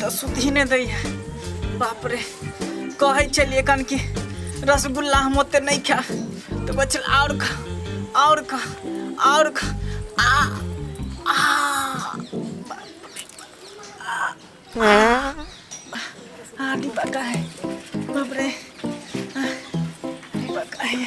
तऽ सुधी नहि दैया बाप रे कहै छलियै कन कि रसगुल्ला हम ओते नहि खा तऽ कहै छल आओर खा आओर खा आओर खा आ आ आ डिब्बा का है बाप रे आ, डिब्बा का है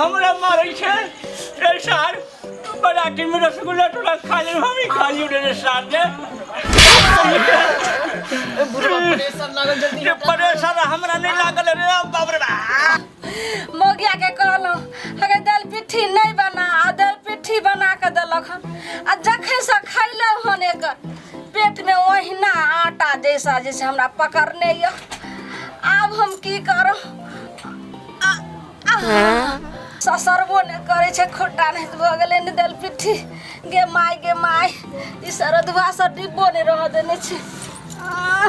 हमरा मारै छै रे सार बराती में रसगुल्ला थोड़ा खा ले हम ही खा लियो रे सार ने प्रेशर हमरा नहीं लागल रे बाप रे बा मौगिया के कहलहुँ अगर दाल पिट्ठी नहीं बना आ दाल पिट्ठी बना के देलक हन आ जखन से खैलहुँ हन एकर पेट में ओहिना आटा जैसा जैसे हमरा पकड़ने यऽ आब हम की करब आ- आ- ससरबो ने करे छै खुट्टा नहीं भऽ गेलै ने दाल पिट्ठी गे माय गे माय ई सरदुआ से डिब्बो नहि रहऽ देने छै आ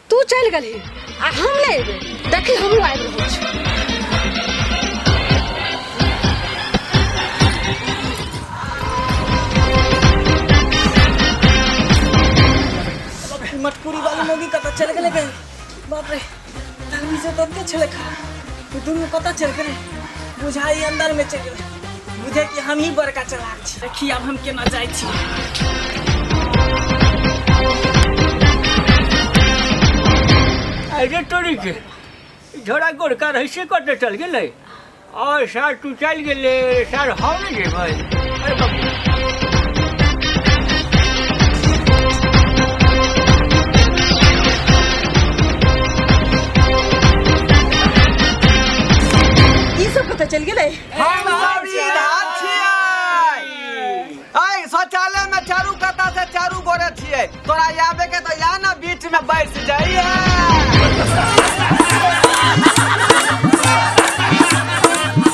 तू चलि गेलही आ हम नहि एबै देखी हमहूँ आबि रहल छी मटकुरी वाली मोगी कतऽ चलि गेलै गए बाप रे धर्मी से तते छलै खा दुनू कतऽ चलि गेलै बुझाइ अंदर में चलि गेलै बुझे कि हम ही बड़का चलाक छी देखी आब हम केना जाइ छी अरे तोरी के झोड़ा गोरका रही से कटे चल गेलै और सर तू चल गेले सर हम नहीं जेबै अरे बाप ई सब पता चल गेलै हम सब ई धार छियै ऐ शौचालय में चारू कता से चारू गोरे छियै तोरा आबे के तो या ना बीच में बैठ जाइए